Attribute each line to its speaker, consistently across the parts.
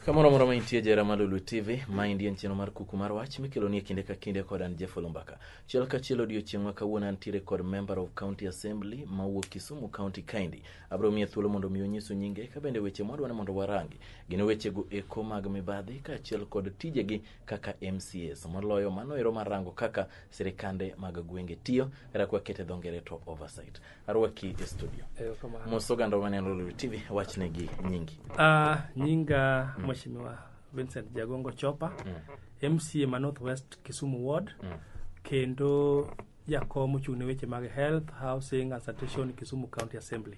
Speaker 1: Kamoro moro maintie jera ma Lulu TV, ma indie nchino mar kuku mar wach mikelo nie kinde ka kinde kod an Jeff Olumbaka. Chiel ka chiel odiochieng' ma kawuono antiere kod member of county assembly ma wuok Kisumu County kaendi. Abro miye thuolo mondo mi onyisu nyinge ka bende weche mwadwa ni mondo warangi. Gin wechego eko mag mibadhi kaachiel kod tijegi kaka MCAs moloyo mano ero marango kaka sirikande mag gwenge tiyo kata kwa kete dho ngere to oversight arwaki e studio mos oganda maneno Lulu TV wachne gi nyingi Ah, nyinga
Speaker 2: mheshimiwa Vincent Jagongo Chopa MCA ma North West Kisumu Ward kendo jakom ochung' ne weche mag health, housing and sanitation Kisumu County Assembly.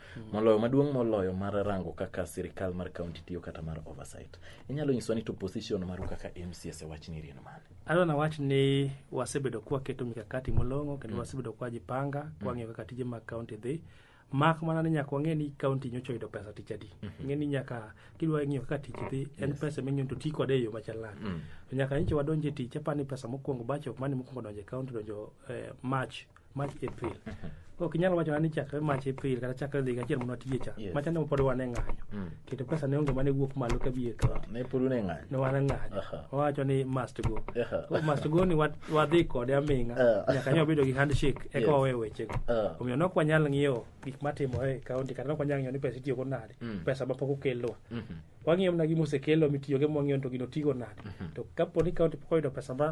Speaker 1: moloyo maduong' moloyo mar rango kaka sirikal mar kaunti tiyo kata mar oversight inyalo nyiswa ni to position maru kaka mcs e wachni iriyo ni mane adwa nawach ni
Speaker 2: wasebedo kwaketo mikakati molong'o kendo wasebedo kwajipanga kwang'iyo kaka tije mag kaunti dhi mak mana ni nyaka wang'e ni kaunti nyocha oyudo pesa tich adi ng'e ni nyaka kidwa ng'iyo kaka tich dhi en pesa ming'eyo to ti kode e yo machal nade to nyaka nyicha wadonje tich apani pesa mokwongo bacho mane mokwongo donje kaunti donjo eh, march March April. Ok inyal wacho ni chakre March April kata chakre dhiga achiel mondo atiye cha. Yes. Machande pod wane ng'anyo. Mm. Keto pesa ne onge mane wuok malo ka biye ka. Ne pod wane ng'anyo. Ne
Speaker 1: wane ng'anyo. Aha.
Speaker 2: Wawacho ni must go. Aha. Koro must go ni wat- wadhi kode aming'a. Ah. Nyaka nyo bedo gi handshake eka Yes. wawe wechego. Ah. Omiyo nok wanyal ng'iyo gik matimore e kaunti kata nok wanyal ng'iyo ni pesa itiyogo nade. Mm. Pesa ma pok okelwa. Mhm. wang'iyo mana gima osekelo mitiyogo ema wang'iyo ni to gino tigo nade to kapo ni kaunti pok oyudo pesa ma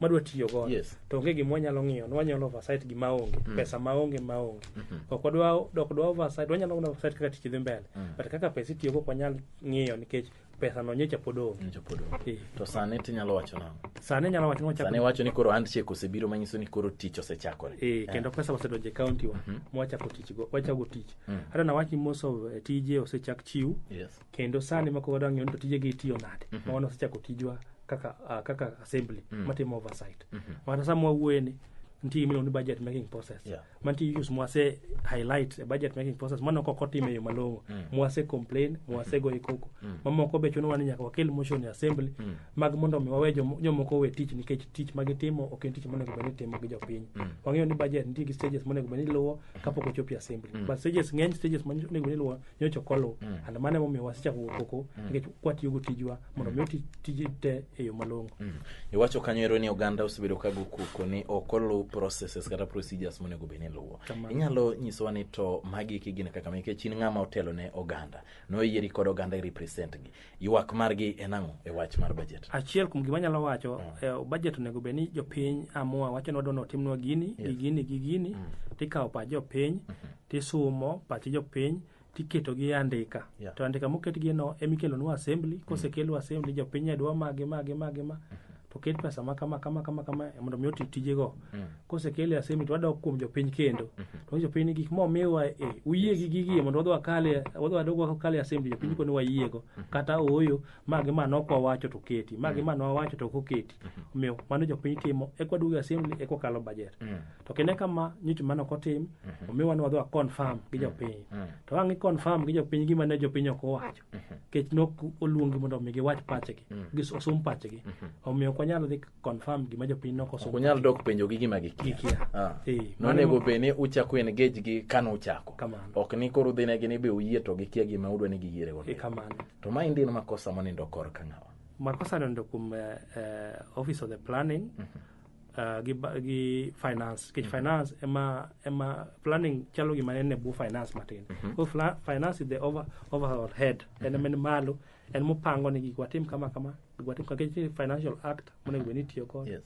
Speaker 2: madwa tiyo godo Yes. to onge gima wanyalo ng'iyo wanyalo oversight gima onge pesa ma onge ma onge ok wadwa dok dwa oversight wanyalo mana oversight kaka tich dhi mbele but kaka pesa itiyo go ok wanyal ng'iyo nikech pesa no nyocha pod onge Nyocha pod onge. Eh, to
Speaker 1: sani tinyalo wacho nang'o sani nyalo wacho ni wachako
Speaker 2: sani wacho ni koro handshake
Speaker 1: osebiro manyiso ni koro tich osechakore Eh, kendo pesa osedonjo
Speaker 2: e county wa mwachako tich go wachako tich hata na wachi most of eh, tije osechak chiw yes kendo sani mako wadwa ng'eyo ni to tijegi itiyo nade ma wan wasechako tijwa kaka ah, kaka assembly matimo oversight mata sama wawuoye ni nitie gimiluongo ni budget making process Yeah. mantie issues mwase highlight e budget making process mano kok otime yo malong'o mwase complain mwase goyi koko mamoko be chunowa ni nyaka wakel motion e assembly mag mondo mi wawe jom- jomoko we tich nikech tich magitimo ok en tich monego bed ni itimo gi jopiny wang'eyo ni budget nitie gi stages monego bed ni iluwo kapok ochopi assembly but stages ng'eny stages monego bed ni iluwo nyocha ok oluw Mm. and mano emomiyo wasechako wuok oko Mm. nikech kwatiyogo tijwa mondo miyo ti- tiji te e yo malong'o Mm. iwacho kanyo
Speaker 1: ero ni oganda osebedo ka gokoko ni ok oluw processes kata procedures monego bed ni luwo Kamano. inyalo nyisowa ni to magi eki gin kaka ma nikech in ng'ama otelo ne oganda noyieri kod oganda i represent gi Ywak margi en ang'o e wach mar budget? Achiel kuom gima anyalo wacho,
Speaker 2: mm. eh, budget onego bed ni jopiny amua wacho ni wadwani otimnwa gini, gi gini, gi gini, mm. tikawo pach jopiny, mm-hmm. tisumo pach jopiny, tiketo gi andika. To andika moketgieno ema ikelonwa assembly, mm. kosekelwa assembly jopiny ne dwa magi, magi, magi, magi. to ket pesa ma kama kama kama kama mondo mi oti tijego Mm. kosekele asemi to wadok kuom jopiny kendo to jopiny ni gik ma omiwa e uyie gi gigi mondo wadhi wakale wadhi wadog wakale asemi to jopiny koni wayiego kata ooyo magi ma nok wawacho to keti magi ma nwawacho to ok oketi omiyo mano jopiny timo eka waduogo e assembly eka wakalo budget Mm. to kine kama nyocha mano ok otim omiwa ni wadhi waconfirm gi jopiny Mm. to ang' i confirm gi jopiny gima ne jopiny ok owacho Mhm. kech nok oluongi mondo mi giwach pachgi mm. gis osum pachgi mhm. omiyo ok wanyal dhi confirm gima jopiny nok osum unyal dok penjo gi gima
Speaker 1: gikia ah. nonego bed ni uchako engage gi kano uchako ok ni koro udhi negi ni be uyie to gikia gima udwa ni giyiere godo e, kamano to ma indin
Speaker 2: makosa
Speaker 1: monindo kor ka ng'awa makosa nindo kuom
Speaker 2: uh, office of the planning mm -hmm. uh, gi, ba- gi finance kech finance ema ema planning chalo gima en e bwo finance matin so fla- finance is the over, overall head en ema en malo en mopango ni gik watim kama kama gik watim kama kech ni financial act monego bed ni itiyo kod Yes.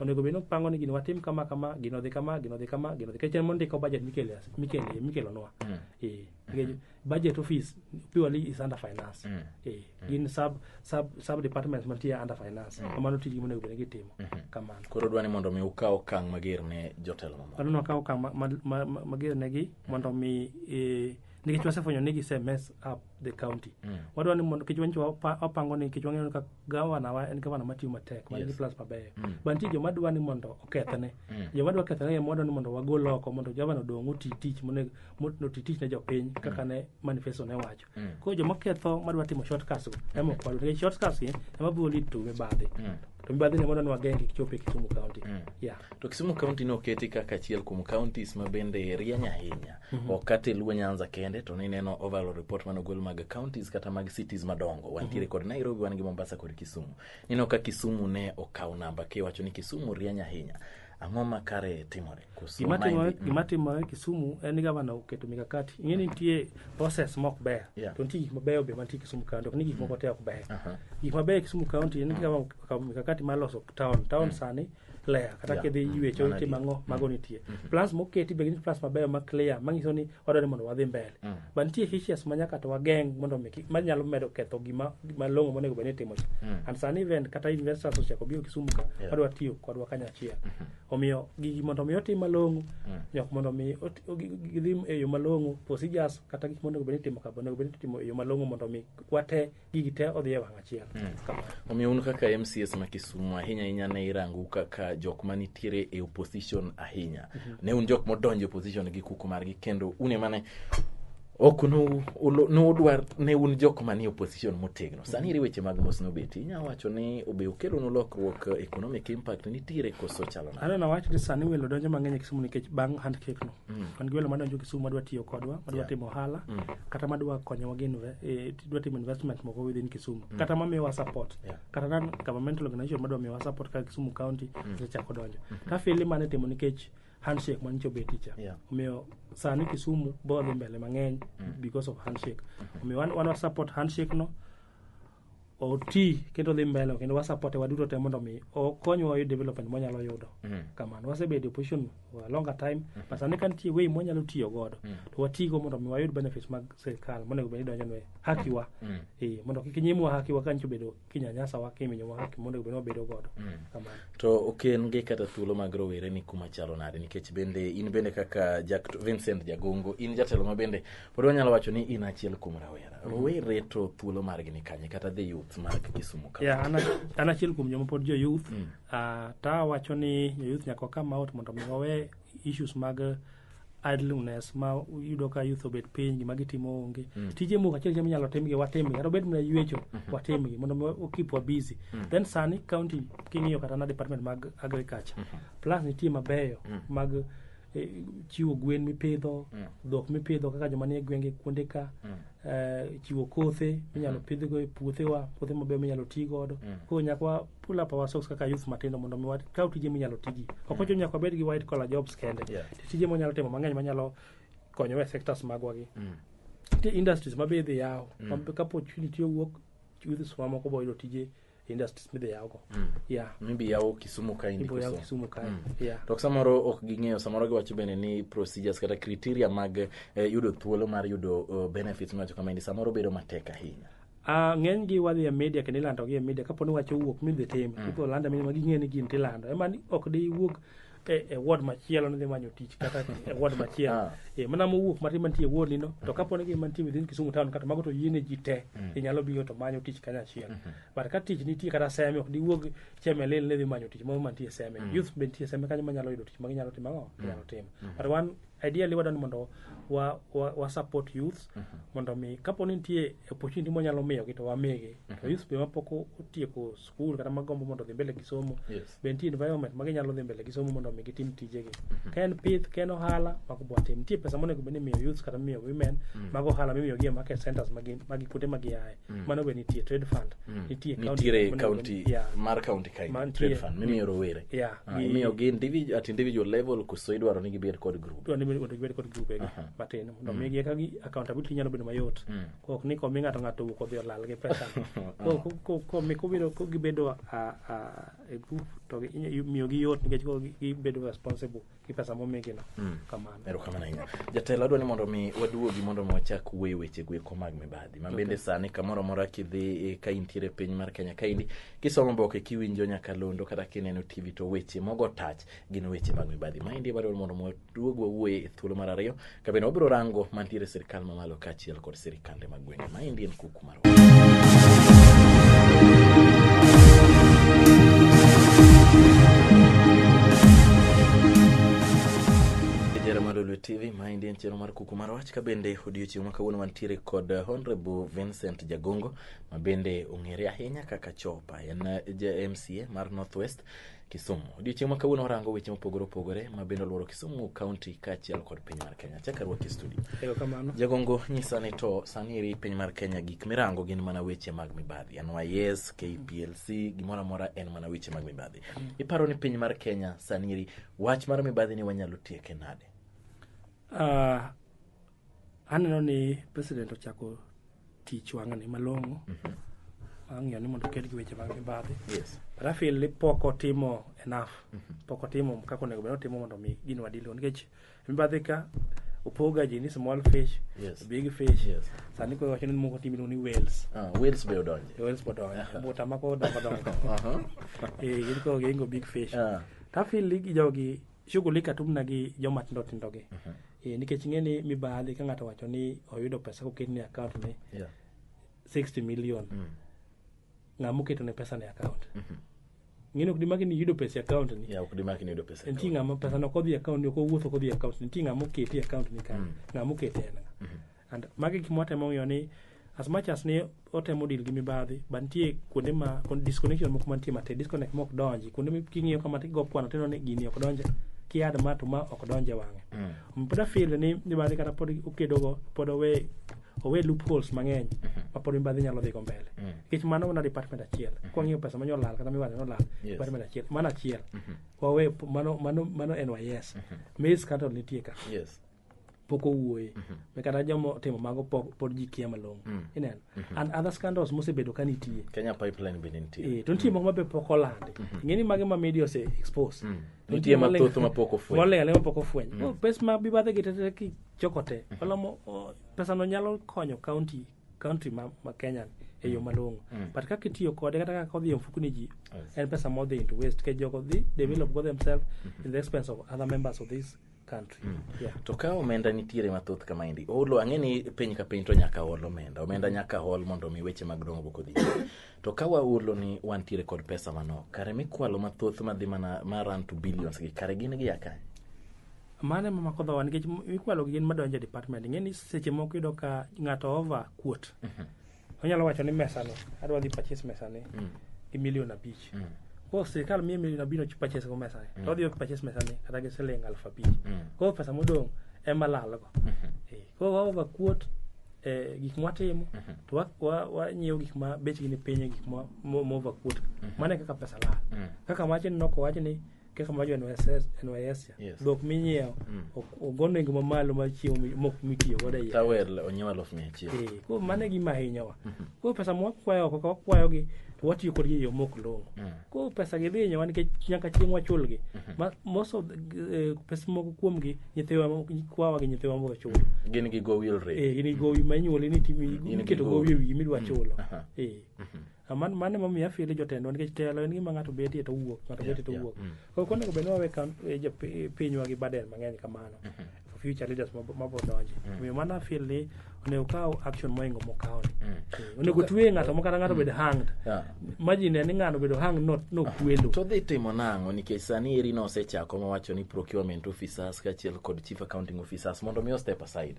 Speaker 2: onego bed ni opango ni gini watim kama kama gino dhi kama gino dhi kama gino dhi kech en mondiko budget mikele mikele mikelonwa eh Nikech budget office purely is under finance Mm. eh, gin sub, sub, sub departments mantie under finance kamano tijgi monego bed ni gitimo kamano koro dwa ni mondo mi
Speaker 1: ukaw okang' mager ne
Speaker 2: jotelo
Speaker 1: mamoko mano
Speaker 2: nakawo okang'
Speaker 1: ma-
Speaker 2: ma- ma- ma-
Speaker 1: mager
Speaker 2: negi mondo
Speaker 1: mi eh,
Speaker 2: nikech wasefwenyo ni gise mess up the county Mm. wadwa ni mondo nikech wanyicho wapa- wapango ni nikech wang'eyo ni ka gavana wa en gavana matiyo matek man gi Yes. plus mabeyo Mm. ba nitie joma dwa ni mondo okethne Mm. joma dwa kethne ema wadwa ni mondo wagol oko mondo gavana odong' oti tich monego motno ti tich ne jopiny kaka ne manifesto ne wacho koro joma ketho madwa timo shortcuts go ema ok wadwa nikech shortcuts gi ema biro lead to mibadhi to mibadhi ne mondo nwagenge kik chop e Kisumu county yeah to kisumu
Speaker 1: county ne oketi kaka achiel kuom counties ma bende rieny ahinya ok kata e luo nyanza kende to nineno overall report mane ogol mag counties kata mag cities madongo wantiere kod nairobi wan gi mombasa kod kisumu nineno ka kisumu ne okawo namba kiwacho ni kisumu rieny ahinya ang'o ma kare timore Gima timore gima
Speaker 2: timore Kisumu en ni gavana oketo mikakati. Ing'e ni nitie process mok ber. Yeah. To nitie gik mabeyo be mantie Kisumu County, ok ni gik moko te ok ber. Aha. Gik mabeyo Kisumu County en ni gavana okawo mikakati mar loso town. Town sani ler kata Yeah. kidhi Mm. yuecho Mana nitie di. mang'o mago nitie. Plans moketi be gin plans mabeyo ma clear manyiso ni wadwaro ni mondo wadhi mbele. Mm. But nitie hitches ma nyaka to wageng' mondo mi kik- manyalo medo ketho gima gima long'o monego bed ni itimo cha. Mm. And sani even kata investors ochako biro Kisumu ka Yeah. wadwa tiyo kodwa kanyachiel. omiyo gigi mondo mi otim malong'o nyok mondo mi ot- o- gi- gi- gidhi e yo malong'o procedures kata gik monego bed ni itimo kabo onego bed ni itimo e yo malong'o mondo mi wate gigi te odhi e wang' achiel Kamano. omiyo un
Speaker 1: kaka mcs ma kisumu ahinya ahinya ne irangu kaka jok ma nitiere e opposition ahinya ne un jok modonjo e opposition gi kuku margi kendo un emane ok nu- ulu- nudwar ne un jok manie opposition motegno sani iri weche mag mos nobeti inyalo wacho ni obe okelonu lokruok eh, economic impact nitiere koso chalo nade? aneno wach ni sani welo
Speaker 2: donjo mang'eny e kisumu nikech bang' handshake no wan gi welo madonjo kisumu madwa tiyo kodwa madwa timo ohala kata madwa konyowa gi inve- eh, dwa timo investment moko within kisumu kata mamiyowa support kata non governmental organization madwa miyowa support kaka kisumu county osechako donjo tafili mane timo nikech handshake ma nyicho beti cha Yeah. omiyo sani kisumu boro dhi mbele mang'eny because of handshake omiyo wan wan wa support handshake no oti kendo dhi mbele kendo wasupporte waduto te mondo mi okonywa wayud development mwanyalo yudo kamano wasebedo e position for a longer time but sani ka nitie way mwanyalo tiyo godo to watigo mondo mi wayud benefits mag sirikal monego bed ni donjonwa hakiwa eh, mondo kik nyimwa hakiwa ka nyicho bedo kinyanyasa wa kiminyo wa haki mondo gibino bedo godo kamano to ok en
Speaker 1: gi kata thuolo mag rowere ni kuma chalo nade nikech bende in bende kaka Jack Vincent Jagongo in jatelo ma bende pod wanyalo wacho ni in achiel kuom rawera rowere to thuolo margi ni kanye kata the youth mag Kisumu ka ya an a- an achiel kuom
Speaker 2: joma pod jo youth ah, ta wacho ni jo youth nyaka wakam out mondo mi wawe issues mag idleness ma yudo ka youth obet piny gima gitimo onge tije moko achiel achiel minyalo timgi watimgi kata obed mana yuecho watimgi mondo mi wa- keep wa busy then sani county king'iyo kata na department mag agriculture plus nitie mabeyo mag eh, chiwo gwen mipidho dhok mipidho kaka joma nie gwenge kuonde ka eh, chiwo kothe minyalo pidhgo e puothewa puothe mabeyo minyalo ti godo koro nyaka wa- pull up our socks kaka youth matindo mondo mi wakaw tije minyalo tigi ok ochuno nyaka wabed gi white collar jobs kende Yeah. tije mwanyalo timo mang'eny manyalo konyowa e sectors magwa gi nitie industries ma be idhi yaw ma be kapo opportunity owuok youths wa moko boyudo tije e industries midhi yawgo yeah maybe yawo
Speaker 1: kisumu ka in ibo yaw Kisumu. kisumu kae
Speaker 2: yeah to samoro ok
Speaker 1: ging'eyo samoro giwacho bende ni procedures kata criteria mag eh, yudo thuolo mar yudo eh, benefits miwacho kama endi samoro bedo matek ahinya Ah, ng'enygi
Speaker 2: wadhi e media kendo ilandogi e media kapo ni wach owuok midhi tim ipo landa mini ma ging'e ni gin tilando ema ni ok diwuog e, e ward machielo nidhi manyo tich kata e ward machielo Ah. e, mana mowuok matin mantie e ward nino to kapo ni gin mantie within Kisumu town kata mago to yiene ji te inyalo biro to manyo tich kanyachiel but ka tich nitie kata seme ok diwuog chemelil nidhi manyo tich moro mantie seme youth be nitie seme kanyo manyalo yudo tich ma ginyalo timo ang'o ginyalo timo but wan ideally wadwani mondo wa, wa, wa support youths mondo mi kapo ni nitie opportunity mwanyalo miyogi to wamigi to youths be mapok o- otieko skul kata magombo mondo odhi mbele gi somo Yes. be nitie environment ma ginyalo dhi mbele gi somo mondo mi gitim tijegi ka en pith ka en ohala mago bwatim nitie pesa monego bed ni imiyo youths kata miyo women mago ohala mimiyogi e market centers magi magi kuonde ma giaye mm. mano be nitie trade fund mm. nitie nitiere county
Speaker 1: yeah. mar county kain trade fund mimiyo rowere yeah. uh, ah, imiyo gi individual at individual level koso idwaro ni gibed kod group dwaro ni mondo gibed kod group egi
Speaker 2: uh -huh. matin mondo mm. migi eka gi accountability nyalo bedo mayot mm. kok ni komi ng'ato ng'ato wuok odhi olal gi pesa komi kobiro ko gibedo a, a, a group to miyo gi yot nikech gibedo responsible gi pesa momigino mm. kamano erokamano ahinya
Speaker 1: jatelo adwa ni mondo mi waduogi mondo mi wachak wuoyo weche gweko mag mibadhi ma bende okay. sani kamoro amora kidhi eh, ka intiere e piny mar kenya kaendi kisomo boke kiwinjo nyaka londo kata kineno tv to weche mogo tach gin weche mag mibadhi maendi wadwa mondo waduog wawuoye e thuolo mar ariyo Kabende wabiro rango mantiere e sirkal mamalo kaachiel kod sirkande mag gwenge. Maendi en kuku mar Jera mar Lulu TV, maendi en chenro mar kuku mar wach kabende odiochieng' ma kawuono wantiere kod eh, Honorable Vincent Jagongo ma bende ong'ere ahinya kaka Chopa. En eh, ja MCA mar Northwest Kisumu. Odiochieng' ma kawuono warango weche mopogore opogore ma bende olworo Kisumu kaunti kaachiel kod piny mar Kenya. Chaka ruoki studio. Erokamano. Jagongo
Speaker 2: nyisa ni
Speaker 1: to sani eri piny mar Kenya gik mirango gin mana weche mag mibadhi. NYS, KPLC, gimoro amora en mana weche mag mibadhi. Iparo ni piny mar Kenya sani eri wach mar mibadhi ni wanyalo tieke nade? Ah,
Speaker 2: Aneno ni president ochako tich wang'ni malong'o ang'iyo ni mondo oked gi weche mag mibadhi Yes. but I feel
Speaker 1: ni pok
Speaker 2: otimo enough pok otimo kaka onego bed ni otimo mondo mi gino wadilgo nikech mibadhi ka opoga ji ni small fish Yes. big fish
Speaker 1: Yes.
Speaker 2: sani koro wacho
Speaker 1: ni moko
Speaker 2: tim iluongo ni whales Ah, Wales be odonje.
Speaker 1: whales pod dongo buta
Speaker 2: mako dongo dongo Aha. eh gin koro gihingo big fish Ah. to I feel ni jogi shughuli katum na gi joma tindo tindo gi Eh, nikech ing'e ni mibadhi ka ng'ato wacho ni oyudo pesa koket ni account ni Yeah. 60 million ng'ama oketo ne pesa ne account ng'eni ok dimaki ni iyudo pesa e account ni Yeah, ok dimaki ni yudo pesa e nitie
Speaker 1: account. ng'ama pesa no kodhi
Speaker 2: e account ni ok owuotho kodhi e account ni nitie ng'ama oketi e account ni kanyo ng'ama oketi en ng'a And magi gik mwatemo ng'iyo ni as much as ni otemo deal gi mibadhi but nitie kuonde ma kon- disconnection moko mantie matek disconnect mok donji kuonde mi- king'iyo kama tigo kwano tineno ni gini ok donje kiad ma to ma ok donje wang'e Mm. pod afil ni mibadhi kata pod okedogo pod owe owe loopholes mang'eny ma pod mibadhi nyalo dhigo mbele Mm. nikech mano mana department achiel kwang'iyo pesa ma nyolal kata mibadhi nolal Yes. department achiel mano achiel wawe mano mano mano en wayes mis kata nitie ka Yes.
Speaker 1: pok owuoye
Speaker 2: mm -hmm. kata jomo timo mago pok pod ji kia malong'o mm -hmm. ineno mm -hmm. and other scandals mosebedo ka nitie Kenya pipeline be
Speaker 1: nitie eh to nitie mm -hmm. moko ma be pok
Speaker 2: olandi mm -hmm. ngeni mage ma media ose expose mm -hmm. nitie ma thoth
Speaker 1: ma pok ofweny mole ale ma pok ofweny mm
Speaker 2: -hmm. pes ma bi bathe gitete ki chokote mm -hmm. olomo oh, pesa no nyalo konyo county country ma, ma Kenya ni e yo mm. malong'o mm. but kaka itiyo kode kata kaka odhi e mfuku ni ji en pesa modhi into waste ke jogo dhi develop go themselves mm-hmm. in the expense of other members of this country. Mm. Yeah. To ka
Speaker 1: omenda nitiere mathoth kama endi, olo ang'e ni piny ka piny to nyaka ol omenda. Omenda mm. nyaka ol mondo mi weche mag dongo kodhi. to ka waolo ni wantiere kod pesa mano, kare mikwalo mathoth madhi mana ma run to billions gi, kare gin gi akany. Mano
Speaker 2: ema mako dhowa nikech mikwalo gi gin madonjo e department. Ing'e ni seche moko yudo ka ng'ato over kuot. Mm -hmm. onyalo wacho ni mesani adwa dhi purchase mesani mm. gi milion abich mm. koro sirikal miye milion abich nochi purchase go mesani mm. to odhi purchase mesani kata gi siling aluf abich mm. koro pesa modong' ema lalgo mm -hmm. e, koro waoga kuot e, gik mwatimo mm -hmm. to wanyiewo wa, wa gik ma bechgi ni piny e gik mova kuot mm -hmm. mano e kaka pesa lal mm -hmm. kaka wachni noko wach ni kaka mawacho e NYSS e NYSIA, Yes. dhok minyiewo ok- ogo nengo mamalo mar chiemo mi- mok mitiyo godo e iye. tawer onyewa lof mia
Speaker 1: achiel Eh, koro mano e gima
Speaker 2: hinyowa koro pesa ma wakwayo oko ka wakwayogi to watiyo kodgi e yo mok long'o koro pesa gi dhi hinyowa nikech nyaka chieng' wachulgi Ma- most of the- eh, pesa moko kuomgi nyithiwa mo- kwawa gi nyithiwa moko chulo gin gi go wheel
Speaker 1: rate Eh, in gowi ma inyuoli
Speaker 2: ni timi- In gi iketo gowi. gowi e wiyi midwa chulo Aha. Eh. Man, mano emomiyo afili jotendwa nikech telo en gima ng'ato betie to wuok ng'ato Yeah, betie to yeah. wuok Mm. koro ok onego bed ni wawe kam- eh, jo- pi- pinywa gi baden mang'eny kamano for future leaders mab- mabro donje omiyo mano afil ni onego kaw action moingo mokawni onego twe ng'ato mokata ng'ato bed hanged Yeah. imagine ni ng'ano bedo hanged no- nokwelo to dhi timo nang'o
Speaker 1: nikech sani eri nosechako mowacho ni procurement officers kaachiel kod chief accounting officers mondo mi o step aside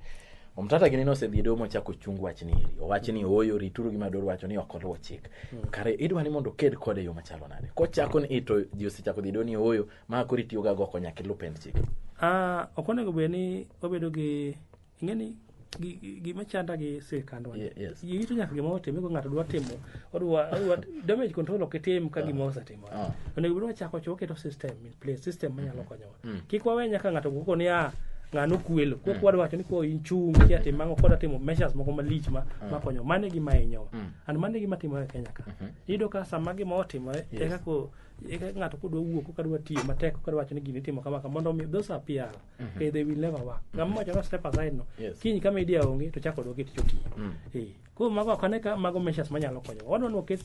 Speaker 1: Omtata gini nosedhi domo ochako chung wach ni eri. Owach ni ooyo rituru gima dwaro wacho ni ok oluwo chik. Kare idwa ni mondo oked kode yo machalo nade. Kochako ni ito ji osechako dhi do ni ooyo ma koro itiyo ga go konya kilu pend chik. Ah, ok onego
Speaker 2: bed ni obedo gi ing'e ni gi- gi- gima chanda gi sirkandwa ni. Ye- yes. Ji rito nyaka gima otime ko ng'ato dwa timo odwa odwa damage control ok itim ka gima osetimore Ah. onego bed wachako choke to system in place system manyalo konyowa Mm. Kik wawe nyaka ng'ato guko ni ah ng'ano kwelo. Kok wadwa wacho ni ko inchung kia tim mang'o kod timo measures moko malich ma ma konyo. Mane gima hinyowa. Mm. And mane gima timore e Kenya ka. Iyudo ka sama gima otimore Yes. eka ko eka ng'ato kodwa wuok koka dwa tiyo matek koka dwa wacho ni gini itimo kama kama mondo omi those are PR. Okay, they will never work. Ng'ama wacho no step aside no. Yes. Kiny kama idea onge to chako odok e tich otiyo. Mm. Eh, koro mago ok ane ka mago measures manyalo konyo. Wadwa ni waket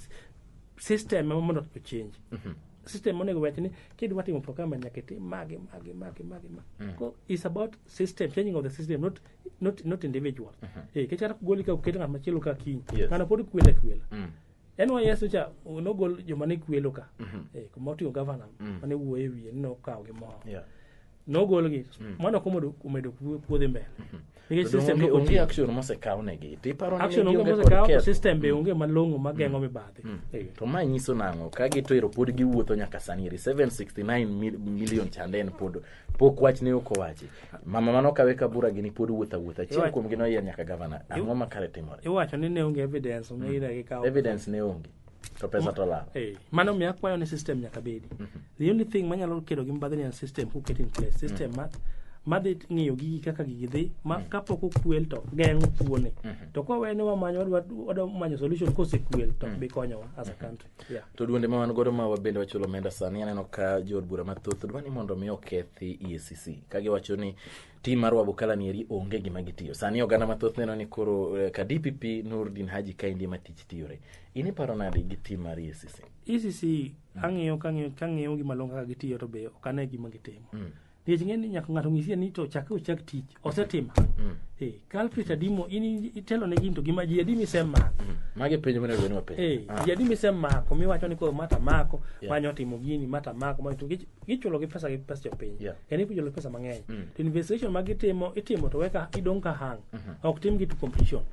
Speaker 2: system ema mondo to change. system monego wach ni kidwa timo procurement nyaka itim magi magi magi magi ma ko is about system changing of the system not not not individual eh kechara kugoli ka uketo ng'at machielo ka kiny Yes. ng'ano pod kwele kwela Mm. NYS cha nogol joma ne kwelo ka eh kuma oting'o governor mane wuoye wiye ni nokawo gi moro Yeah. nogolgi mm. mano komedo omedo puodhi mbele mm-hmm. nikech system onge,
Speaker 1: onge action mosekaw negi to iparo ni action onge mosekaw to system
Speaker 2: be mm. onge malong'o mageng'o mm. mibadhi mm. to ma nyiso
Speaker 1: nang'o ka gitoero pod giwuotho nyaka sani eri 769 million chande en pod pok wach ne ok owachi mama mano kawe ka bura gini pod wuotho awuotha achiel kuom gi noyier nyaka gavana ang'o makare timore iwacho ni ne onge
Speaker 2: evidence ong'e mm. ira gi kawo evidence ne onge
Speaker 1: to pesa to lal Eh, mano mi akwayo ni
Speaker 2: system nyaka bedi the only thing manyalo kedo gi mbadhi ni en system who get in place system ma madhi ng'iyo gigi kaka gigi dhi ma kapok okwel to geng'o kuone to kwawe ni wamanyo wadwa- wadwa manyo solution kosekwel to ok bi konyowa as a country yeah. to duonde ma wan
Speaker 1: godo ma wabende wachulo omenda sani aneno ka jood bura mathoth dwa ni mondo mi okethi EACC ka giwacho ni tim mar wabukala ni eri onge gima gitiyo sani oganda mathoth neno ni koro eh, ka dpp nurdin haji kaendi ema tich tiyore in iparo nade gi tim mar E ecc ECC
Speaker 2: ang'iyo kang'iyo kang'iyo gima long kaka gitiyo to be ok ane gima gitimo. Mm. Nikech ng'e ni nyaka ng'ato ng'isie ni to chakre ochak tich osetimo. Mm. Eh, Culprit adi mo in itelo ne gin to gima ji adi misemako. Magi penjo mane
Speaker 1: gwen wapenjo. Eh, Ah. ji adi misemako
Speaker 2: miwacho ni koro mata mako Yeah. manyo timo gini mata mako manyo to gi- gichulo gi pesa gi pesa jopiny. Yeah. En ipujo pesa mang'eny. Mm. To investigation ma gitimo itimo to weka idong ka hang. Ok tim gi to completion.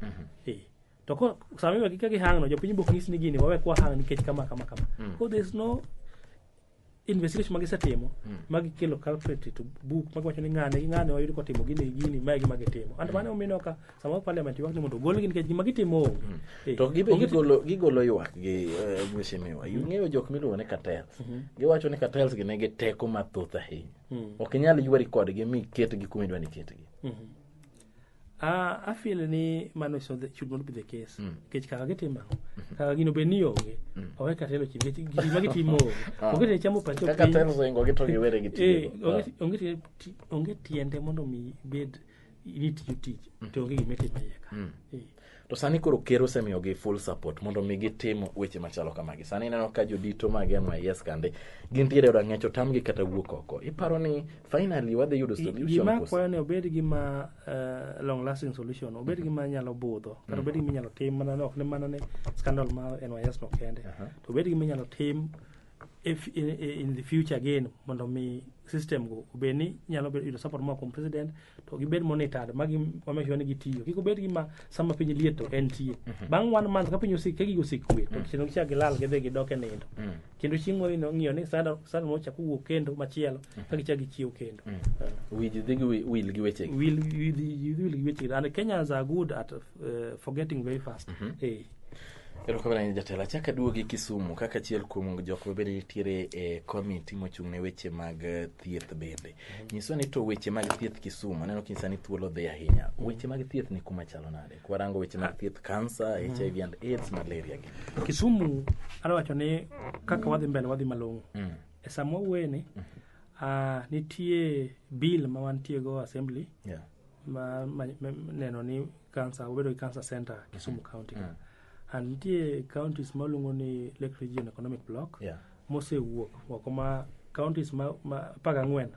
Speaker 2: Eh. To ko sama iwe gi ka gihang no jopiny bok nyis ni gini wawe kwa hang nikech kama kama kama. Ko there's no investigation ma gisetimo ma gikelo culprit to book ma giwacho ni ng'ane gi ng'ane wayudo kotimo gini gi gini mae gima gitimo and mano omino ka sama parliament ywak ni mondo ogolgi nikech gima gitimo onge Eh, to gibe
Speaker 1: onge- gigolo gigolo ywak gi eh, mheshimiwa ing'eyo jok miluongo ni cartels giwacho ni cartels gi nigi teko mathoth ahinya ok inyal ywari kodgi mi ketgi kuma idwa ni ketgi Mhm. Ah,
Speaker 2: I feel ni mano is not the, should not be the case. Nikech kaka gitimo ang'o? Kaka gino be ni onge. Owe katelo chi nikech gima gitimo onge. Ah. Onge tiende chamo pacho Kaka piny. telo zingo gi to
Speaker 1: giwere gi Eh, tiyo.
Speaker 2: onge- onge tiende- ti- onge tiende mondo mi bed ni tiyo tich to onge gima itimo iye ka. Eh. To sani
Speaker 1: koro ker osemiyogi full support mondo mi gitim weche machalo kamagi. Sani ineno ka jodito mag NYS kande gintiere e rang'ech otamgi kata wuok oko. Iparo ni finally wadhi yudo solution Gima koso? kwayo ni obed
Speaker 2: gi ma eh, long lasting solution, obed gi ma nyalo budho, kata obed gi ma inyalo tim mana ni ok ni mana ni scandal mar NYS no kende. To obed gi ma inyalo tim if in, in the future again mondo mi system go obed ni nyalo bedo yudo support moa kuom president to gibed monitored ma gi ma make sure ni gitiyo kik obed gi ma sama piny liet to en tie bang' one month ka piny osik ka gigo osik kwe to kendo gichak gilal gidhi gidok e nindo kendo chieng' moro ino ng'iyo ni sada sada moro chak owuok kendo machielo ka gichak gichiew kendo Wiji dhi gi
Speaker 1: wi- wil gi wechegi. will will will will
Speaker 2: which and Kenyans are good at uh, forgetting very fast. Mm -hmm. hey.
Speaker 1: erokamano ni jatelo achak aduogi kisumu kaka achiel kuom jok mabende nitiere e komiti mochung' ne weche mag eh, thieth bende mhm. nyiswa ni to weche mag thieth kisumu aneno kinyisa ni thuolo dhi ahinya mhm. weche mag thieth ni kuma chalo nade kwarango weche mag thieth kansa mhm. hiv and aids malaria gi kisumu
Speaker 2: adawacho ni kaka wadhi mbele wadhi malong'o mm. e sama wawuoyeni mm. uh, ah, nitie bill ma wantiego assembly yeah. ma, ma, ma neno ni cancer obedo gi cancer center Kisumu County ka. And nitie counties ma luongo ni Lake Region Economic Block Yeah. mosewuok oko ma counties ma, ma apar gang'wen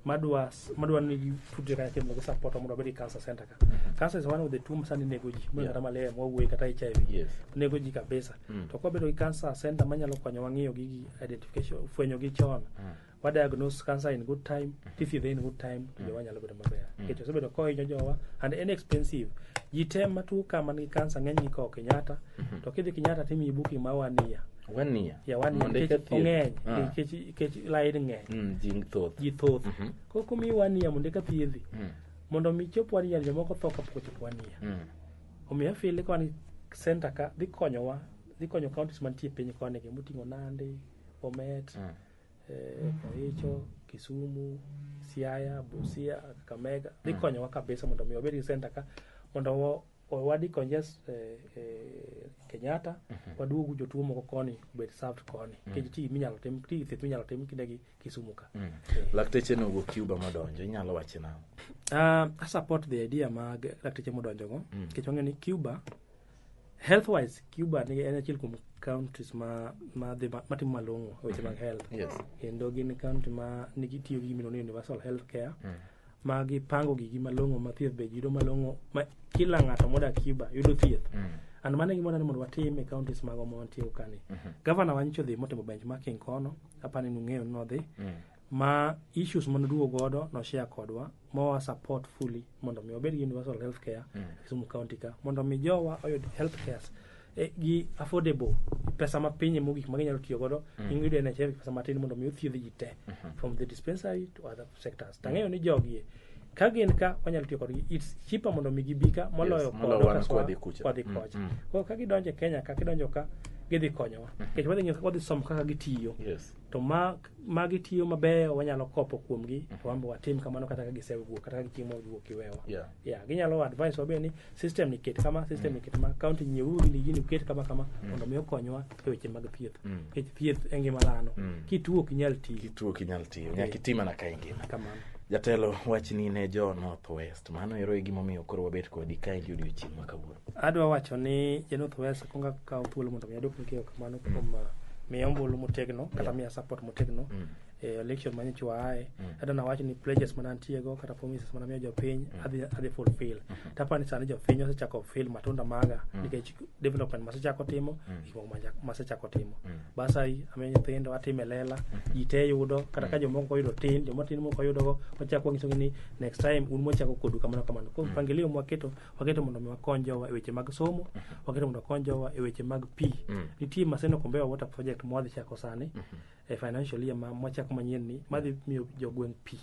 Speaker 2: madwa s- madwa ni gitudre kanyakla mondo gisupport mondo obed gi cancer center ka. Cancer is one of the two masani nego ji, mano Yeah. kata malaria mwawuoye kata HIV Yes. nego ji kabisa Mm. to kwabedo gi cancer center manyalo konyowa ng'iyo gigi identification fwenyo gi chon wa diagnose cancer in good time tithiedhe in good time to jowa nyalo bedo maber nikech osebedo kohinyo jowa and en expensive ji te matuo ka man gi cancer ng'eny gi kawo kenyatta to kidhi kenyatta timiyi booking ma wania wania ya wania Mondo eka nikech thieth. ong'eny Ah. nikech nikech lain ng'eny Mm, ji thoth ji thoth Mhm. koro komiyi wania mondo eka thiedhi Mm, mondo mi chop wania jomoko tho kapok ochop wania mm, omiyo afile kwan center ka dhi konyowa dhi konyo counties mantie piny koni gi moting'o nandi bomet mm. eh, Kericho, Kisumu, Siaya, Busia, Kakamega dhi konyowa kabisa mondo mi wabed gi center ka mondo wa- wa- wadi conges eh, eh, Kenyatta waduogu jotuo moko koni obed served koni nikech ti minyalo tim ti thieth minyalo tim kinde gi Kisumu ka Eh. lakteche no
Speaker 1: wuok cuba modonjo inyalo wache nang'o Uh, I
Speaker 2: support the idea mag lakteche modonjogo nikech wang'eyo ni Cuba health wise cuba ni en achiel kuom countries ma ma dhi ma- matimo malong'o e weche mag health Yes. kendo gin county ma nigi tiyo gi gimiluongo ni universal health care ma gipango gigi malong'o ma thieth be yudo malong'o ma kila ng'ato modak cuba yudo thieth and mano e gimodwa ni mondo watim e counties mago ma wantie kani gavana wa nyicho dhi motimo benchmarking kono apani nung'eyo ni nodhi ma issues manoduogo godo noshare kodwa mowa support fully mondo mi wabed gi universal health care mm. Kisumu County ka mondo mi jowa oyud health care e, gi affordable pesa ma pinye mogik ma ginyalo tiyo godo mm. ingiyudo NHF gi pesa matin mondo mi othiedh ji te mm -hmm. from the dispensary to other sectors mm. tang'eyo ni jogie ka gin ka wanyalo tiyo kodgi it's cheaper mondo mi gibi ka moloyo yes, kodo
Speaker 1: kwadhi kocha mm -hmm. koro ka
Speaker 2: gidonjo e Kenya ka gidonjo ka gidhi konyowa mm -hmm. kech wadhi, wadhi somo kaka gitiyo yes. to ma magi tiyo mabeyo wanyalo kopo kuomgi to wan be watim kamano kata ka gisewuok kata ka gichieng' ma giwuok giwewa Yeah. yeah, ginyalo advice wabe ni system ni ket kama system ni ket kama kaunti nyieuru gini gini uket kama kama mondo mi okonywa e weche mag thieth Mm. nikech thieth e ngima dhano Mm. kituo ok inyal tiyo kituo kinyal tiyo nyaka iti mana ka
Speaker 1: ingima kamano jatelo
Speaker 2: wachni
Speaker 1: ne jo north west mano ero e gimomiyo koro wabet kodi kaendi odiochieng' ma kawuono Adwa wacho ni
Speaker 2: Januoth Wes kuongo akawo thuolo mondo mi adwok ni keyo kamano kuom uh, miya ombulu motegno kata miya support motegno Mm. e election ma nyocha waaye kata nawacho ni pledges mana antiego kata promises mana miyo jopiny adhi adhi fulfill tapa ni sani jopiny osechako feel matunda maga nikech development masechako timo gik moko maja- masechako timo basari amiyo nyithindo atime lela ji te yudo kata ka jomoko oyudo tin joma tin moko oyudogo wachako wanyisogi ni next time un mwachako kodu kamano kamano koro mpangilio mwaketo waketo mondo mi wakony jowa e weche mag somo waketo mondo wakony jowa e weche mag pi nitie maseno kombewa water project mwadhi chako sani e financial year ma mwachako manyien ni madhi miyo jogweng' pi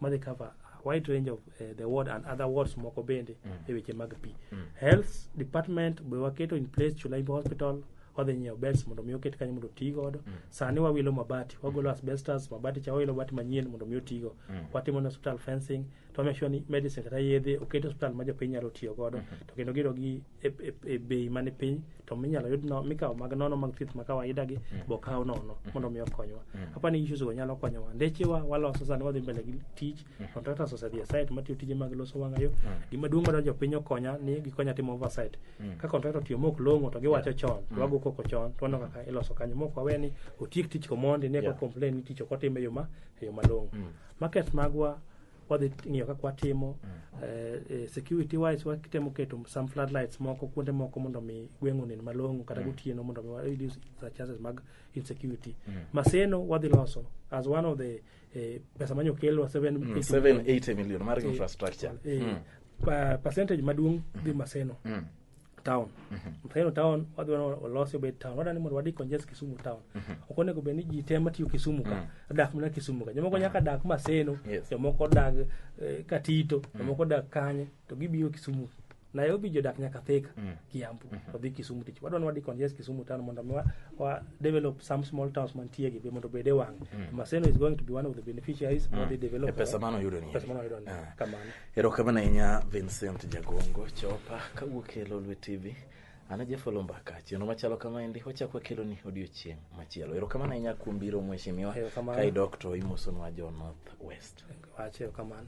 Speaker 2: madhi cover a wide range of eh, the ward and other wards moko bende e weche mag pi health department be waketo in place chulaimbo hospital wadhi nyiewo beds mondo mi oket kanyo mondo oti godo sani wawilo mabati wagolo asbestos mabati cha wawilo mabati manyien mondo mi otigo watimo ne hospital fencing to make sure ni medicine kata yedhe oket e hospital ma jopiny nyalo tiyo godo to kendo giyudo gi e, e, e bei man e piny to minyalo yud no, mikawo mag nono mag thieth ma kawaida gi bo kaw nono mondo mi okonywa apa ni issues go nyalo konyowa ndechewa waloso sani wadhi mbele gi tich contractors osedhi e site matiyo tije mag loso wang'ayo gima duong' madwaro jopiny okonya ni gikonya timo oversight ka contractor otiyo mok long'o to giwacho chon to wago koko chon to waneno kaka iloso kanyo mok wawe ni otiek tich komondi ne Yeah. ko complain ni tich ok otime e yo ma e yo malong'o market magwa wadhi ng'iyo kaka watimo eh, eh, security wise watemo keto some floodlights moko kuonde moko mondo mi gweng' onen malong'o kata gotieno mondo mi wa reduce the chances mag insecurity maseno wadhi loso as one of the eh, pesa manyo kelo 780 780 million
Speaker 1: mar infrastructure eh, pa-
Speaker 2: percentage maduong' dhi maseno town mfeno town wadhi wana olosi obed town wadani mondo wadi conges kisumu town ok onego bed ni ji te matiyo kisumu ka dak mana kisumu ka jomoko nyaka dak maseno Yes. jomoko dag eh, katito jomoko dak kanye to gibiro kisumu nairobi jodak nyaka thika kiambu to dhi kisumu tich wadwa ni wadi conges kisumu town mondo mi wa- wa develop some small towns mantie gi be mondo obed e wang maseno is going to be one of the beneficiaries of the E development pesa mano yudo ni. pesa
Speaker 1: mano yudo ni Ah. kamano
Speaker 2: erokamano ahinya
Speaker 1: vincent jagongo chopa kawuok e lolwe tv an ajafolo mbaka chieno machalo kamaendi wachak wakeloni odiochieng' machielo erokamano ahinya kuom biro mheshimiwa Erokamano. ka idok to imosonwa
Speaker 2: jo
Speaker 1: north west wache
Speaker 2: kamano